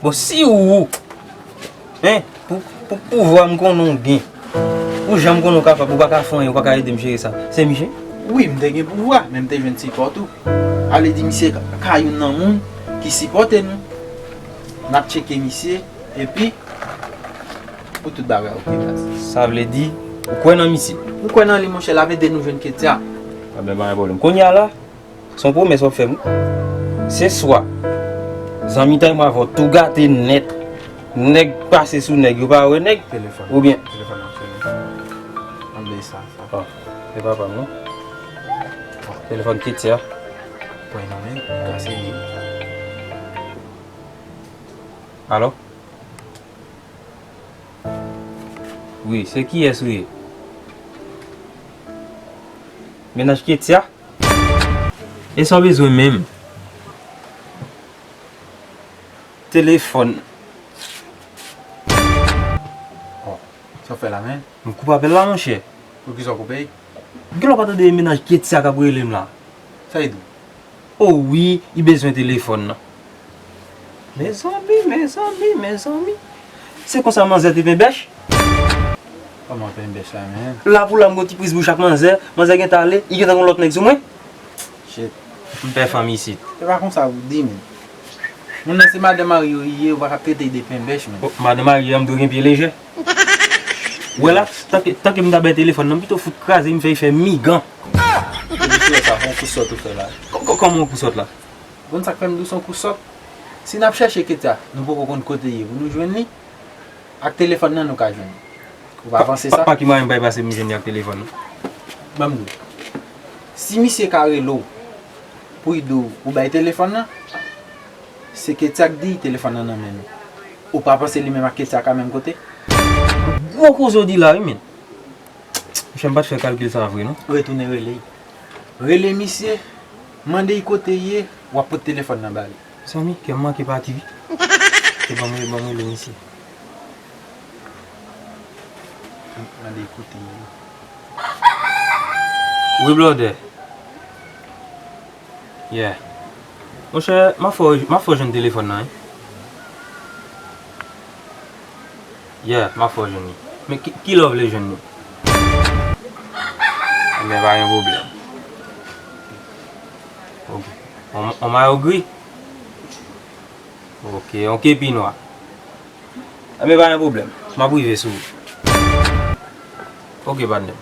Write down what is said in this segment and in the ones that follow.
Bon si ou ou Hein Pou pouvwa m konnen w gen Pou jan m konnen w kapab ou pa ka fè anyen ou pa ka ede m jere sa Se misye? Wi m te gen pouvwa men m te jwenn sipò tou A vle di misye ka youn nan moun ki sipòte nou N ap tcheke misye epi Pou tout bagay ok baz Sa vle di ou kwè nan misye? M kwè nan li monchè l ap ede nou jwenn Ketya Pwoblèm pa gen pwoblèm Kounye a la Son pwomès wap fèm wi. Se swa zanmitay mwen avèw tou gate nèt. Nèg pase sou nèg yo pa wè nèg ou byen. Telefòn nan sone. An bèy sa. Bon, se pa pam non. Telefòn Ketia. Pwen nan men, ka se li. Alo? Wi, se kiyès ou ye? Menaj Ketia? Esa w bezwen menm? Telefòn. Oh, sa w fè la menn? M koupe apèl la monchè. Poukisa w koupe l? Gen lè w pa tande e mennaj Ketty a k ap rele m la. Sa li di w? Oh wi, li bezwen telefòn nan. Mezanmi, mezanmi, mezanmi. Se konsa manzè te penbèch? Koman penbèch la menm? La pou la m gon ti priz bouch ak manzè, manzè gen tan ale, li gen tan gon lòt nèg sou mwen. Shit. M pè fanm isit. Se pa konsa ou di menm. Moun nan se madan mari yo li ye, ou pa ka trete l de penbèch menm. Oh, madan mari a m dwe gen pye lejè. Ou wè la, tanke m ta bay telefòn nan, m pito fout kraze, m fè efè migan. Epi sou wè sa, se yon kou sòt ou fè la. Koman yon kou sòt la? W konn sak fè m di w son kou sòt? Si nap chèche Ketya nou poko konn kote ye pou nou jwenn li? Ak telefòn nan nou ka jwenn li. Ou pa panse sa? Pa ki mwayen m bay pase m jwenn li ak telefòn nan? Banm di w. Si misye ka rele w pou l di w ou bay telefòn nan, se Ketya k di telefòn nan nan men nou. Ou pa panse li menm ak Ketya ka menm kote? Gwo koze w di la wi men. Monchè m pat fè kalkil sa vre non. Retounen rele l. Rele misye Mande i kote ye wap pot telefon nan bali. Mezanmi kèm manke pati wi. Ok banm rele banm rele misye. Mande i kote ye. Wi blòdè. Yeah. Monchè map fè w map fè w jwenn telefòn nan wi. Yeah map fè w jwenn li. Men kilè w vle jwenn li? Enben pa gen pwoblèm. Yon mayo gri? Ok, yon kepi nwa? Enben pa gen pwoblèm. Map rive sou ou. Ok patnè m.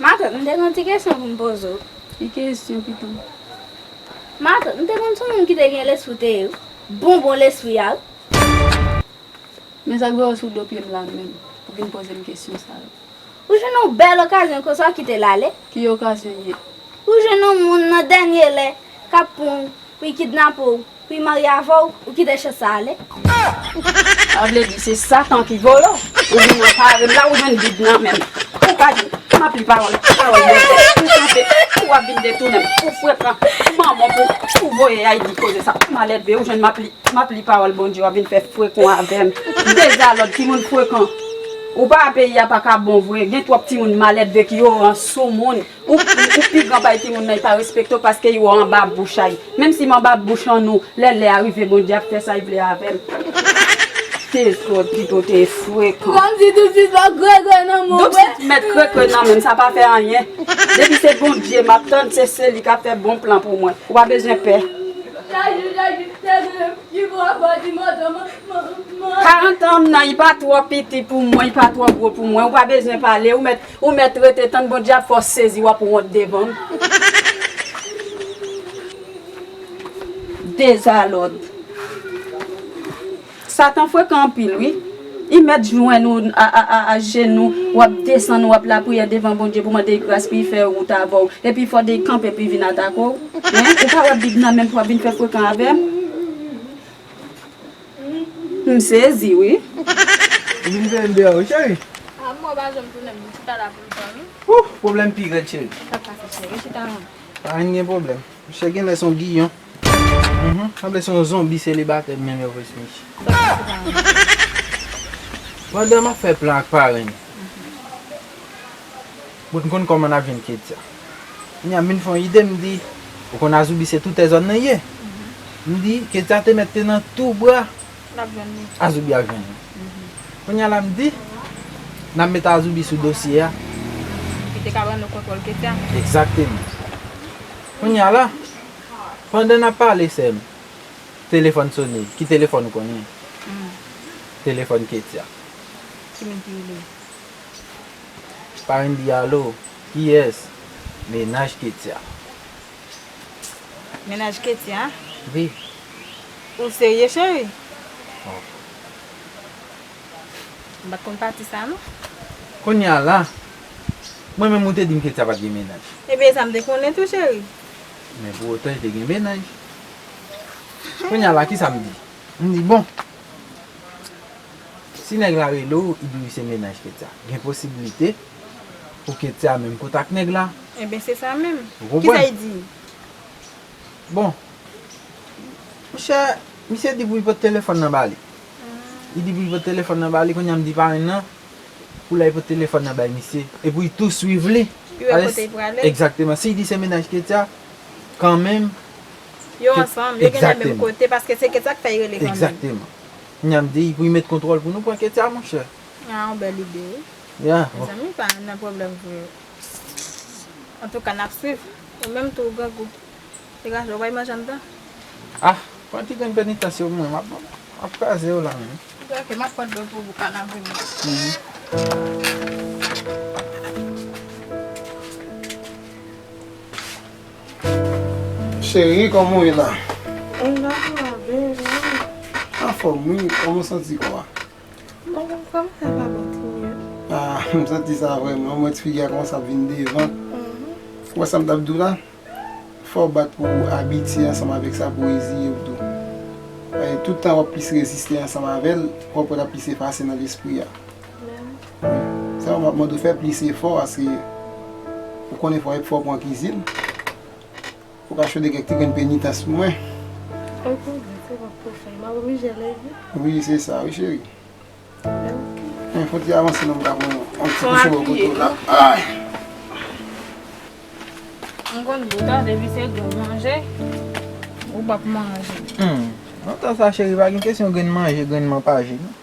Matant, m te gen yon ti kesyon pou m poze w. Ki kesyon pitom? Matant, m te konn sou moun ki te gen lespri w te ye wi. Bon bon lespri a wi. Men sa k voye w sou do pye m la menm pou vin poze m kesyon sa yo? Ou jwenn yon bèl okazyon konsa w kite l ale? Ki okazyon, ye? Ou jwenn yon moun nan dènye lè k ap pran w pou l kidnape w. Wi marye avè w ou kite chans sa ale. Sa vle di se satan ki vòlò. Ou vin nan parèm la ou jwenn bib nan menm. Ou pa di m ap li pawòl pawòl bondye ou kanpe ou ap vin detounen m ou fwe pran manman pou ou voye ay di koze sa m al èdve ou jwenn m ap li m ap li pawòl bondye w ap vin fè frekon avè m ou dezalòd timoun frekan ou pa peyi a pa ka bon vre gen twòp timoun malèdve ki oran soumoun. Ou ou pi gran bay timoun nan y pa respekte w paske y ou anba bouch a y menm si m anba bouch an ou lè lè a rive Bondye ap fè sa y vle avè m se zòt Pipo te frekan. Kòm si tout sit lan krekre nan menw vre. Tout sit mèt krekre nan menm sa pa fè anyen depi se Bondye map tann se seli kap fè bon plan pou mwen ou pa bezwen pè. Chak jou chak jou se vle pi gwo anba di madan manman. 40 ans m nan y pa twò piti pou mwen y pa twò gwo pou mwen ou pa bezwen pale ou mèt Ou mèt rete tann Bondye ap fè w sezi wap wont devan m. Dezalòd. Satan frekan anpil wi. I mèt jwenn ou a jenou wap desann wap lapriyè devan Bondye pou mande gras pou I fè wout avè w epi fò de kanpe pou I vin atake w hein ou pa wè bib nan menm pou wap vin fè frekan avè m. M sezi wi. Ou vin fè m bè wi cheri. A mwen pa janm tounen m chita la pou ltan wi. Ouff pwoblèm pi rèd cheri. Sa k pase cheri chita la. Pa vin gen pwoblèm. Misye genlè son giyon. Sanble son zonbi selibatè m menm yo vre sou misye. Sa k pase pa vin gen pwoblèm. Pandan m ap fè plan ak parenn. Bon konn kòman nap jwenn ketya. Kounya min fon ide m di ou konn azoubi se toutè zòn nan ye. M di ketya te mèt te nan tou bra azoubi ap jwenn li. Kounya la m di nap met azoubi sou dosye a. Ki te ka ban nou kontwòl ketya. Egzakteman. Kounya la pandan nap pale sèm telefòn sone ki telefòn ou konnen? Telefòn ketya. Ki min ki rele? Carine di alo, kiyès? Mennaj Ketya. Mennaj Ketya? Wi. Ou serye cheri? Bon. M pa t konn pati sa non. Kounye a la, mwen menm ou te di m Ketya pa t gen mennaj. Ebyen e sa m te konnen tou cheri. Men pou otan li te gen mennaj. Kounye a la kisa m di? M di bon. Si nèg la rele w i di w se mennaj Ketya, gen posibilite pou Ketya menm kote ak nèg la. Enben se sa menm. Ou konprann? Kisa y di? Bon, monchè, misye di pou y pot telefòn nan ba li. Li di pou y pot telefòn nan ba li, kounye a m di parenn nan pou l al pot telefòn nan bay misye e pou y tou swiv li. Pou y wè kote y prale. Egzakteman. Si y di se mennaj Ketya, kanmenm. Yo ansanm, yo genlè menm kote paske se Ketya k fè y rele kanmenm. Egzakteman. Kounya m di pou y met kontrol pou nou pran ketya monchè. Ah yon bèl ide wi. Yeah. Mezanmi m pa nan pwoblèm pou yo. Antouka nap swiv. Ou menm tou ou grangou. Degaje w bay manje anndan. Ah pran ti grenn penitans yo pou mwen map map kraze yo la menm. Ok map pran dlo pou bouka nap vini. Cherie koman ou ye la? Mwen la mave ou? Anfom wi, koman ou santi kò a? Bon mwen komanse ap santi mye. Ah m santi sa vre menm, ou wè ti figi a komanse ap vin devan. Ou wè sa m tap di w la? Fò w bat pou ou abitye ansanm avèk sa pou reziye w tou. Paske tout tan wap plis reziste ansanm avè l, wap wè lap plis efase nan lespri a. Sa yo map mande ou fè plis efò paske ou konnen fò efò pou an kizin. Fò ka chode kèk ti grenn penitans pou mwen. Ok boo, se bon pou fè. Map oblije leve? Wi se sa wi cheri. Ok. Fon ti avanse non m ta pran yon ti kouche bò kote w la. Fon apiye non. M konn boo ta depi se grenn manje ou pap manje. Nan tan sa cheri pa gen kesyon grenn manje grenn man pa je non.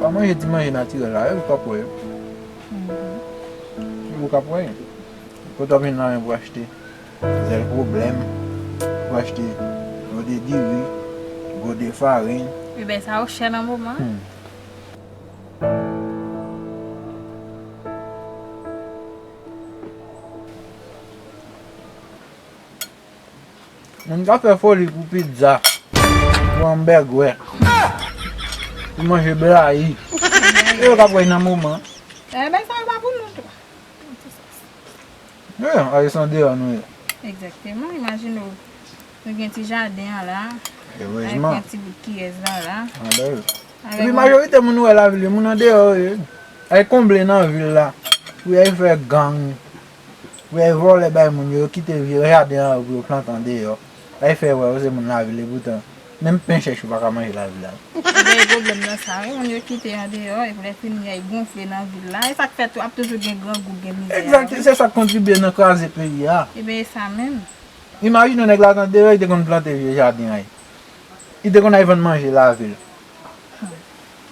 Pa manje ti manje natirèl la yo kap wè yo. Se yo kap wè yo. Kote wap jwenn lajan pou achte zèl pwoblèm, pou achte gode diri, gode farin. Wi bèy sa yo chè nan moman an. Moun ka fè foli pou pizza, pou anbègwè, pou manje blayi. Se yo k ap wè nan moman an. Dayè bagay sa yo pa pou nou tou. Nan tout sans. Men non, ayisyè an deyò nou ye. Egzakteman. Imajine w, nou gen ti jaden an la. Erezman. Avèk yon ti bout kiyès la la. An ba yo. Epi majorite moun ou wè lavil yo, moun andeyò yo ye. Y al konble nan vil la pou y al fè gang, Vye vòlè bay moun yo, yo kite vye jaden an yo pou yo plante andeyò, la yo fè wè yo se moun lavil epoutan menm pen chèch yo pa ka manje lavil la tou. Ou veye pwoblèm nan sa wi, moun yo kite andeyò epi lè fini an yo gonfle nan vil la, e sa k fè tou ap toujou gen grangou, gen mizè a wi. Exact, se sa k kontribye nan kraze peyi a. Eben e sa menm. Imajine w nèg la t andeyò li te konn plante vye jaden an li te konn al vann manje lavil.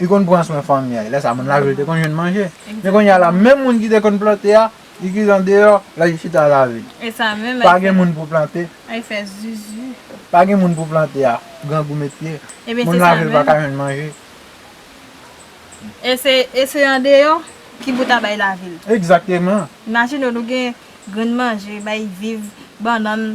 Li konn pran swen fanmi a. Lè sa moun lave li te konn jwenn manje. Men kounye a la menm moun ki te konn plante a, li ki andeyò, lal chita lave. Pa gen moun pou plante. Pa gen moun pou plante a. Grangou met pye. Moun lave li pa ka jwenn manje. E se andeyò ki pou ta bay lavi l. Egzateman. Imajine nou gen grenn manje, bay viv, bannann,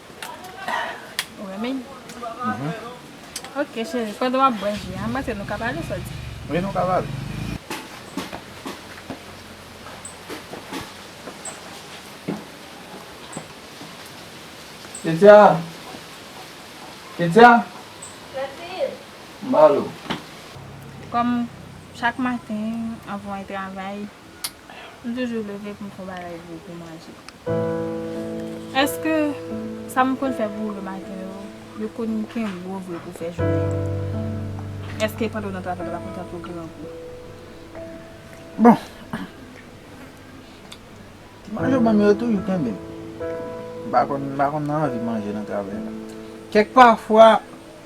Ou renmen li? Mh. Ok cheri, pandan wap bwè ji a, m panse nou ka pale, sa w di? Wi nou ka pale. Ketya! Ketya! Clotilde! M ba l ou. Kòm chak maten anvan w al travay. M toujou leve pou m fè yon bagay pou pou manje. Èske sa m konn fè pou ou le maten yo, yo konn kenbe w vre pou fè jounen an? Èske pandan w nan travay ou pa konn tanpe w grangou? Bon, ti manje w ban m yo, yo toujou kenbe m. M pa konn, m pa konn anvi manje nan travay la. Kèk pafwa.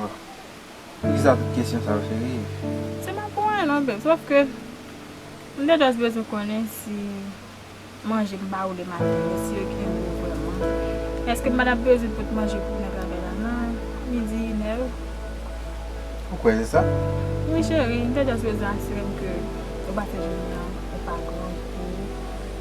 Ohh poukisa tout kesyon sa yo serye? Se pa pou anyen non beb sof ke m te just bezwen konnen si manje m ba ou le maten yo si yo kenbe ou vreman. Eske m pa tap bezwen pot manje pou nèg la fè la nan midi inè yo? Ou kwè se sa? Wi cheri, m te just bezwen asire m ke ou pa fè jounen an ou pa grangou.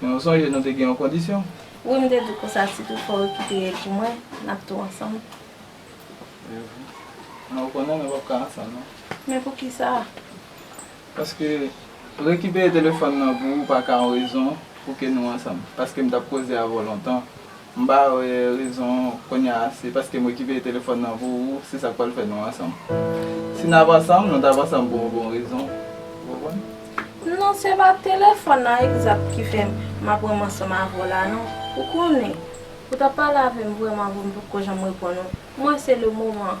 Men ou sonje nou te gen yon kondisyon. Wi m te di w konsa si tout fwa w kite El pou mwen, n ap tou ansanm. Men ou konnen nou p ap ka ansanm non. Men poukisa? Paske rekipere telefòn nan pou ou pa ka yon rezon pou ke nou ansanm. Paske m t ap koze avè w lontan. M pa wè rezon kounya se paske m rekipe telefòn nan pou ou se sa k pral fè nou ansanm. Si n ap ansanm nou t ap ansanm pou yon bon rezon ou konprann. Non se pa telefòn nan egzat ki fè m ap ranm ansanm avè w la non. Ou konnen, ou t ap pale avè m vrèman avan m potko janm reponn ou. M wè se le moman.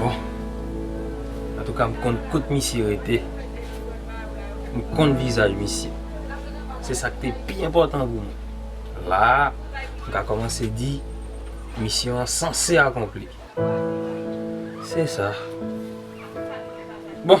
Bon Antouka m konn kot misye rete M konn vizaj misye Se sa k te pi enpòtan pou mwen La a m ka kòmanse di Misyon an sanse akonpli Se sa Bon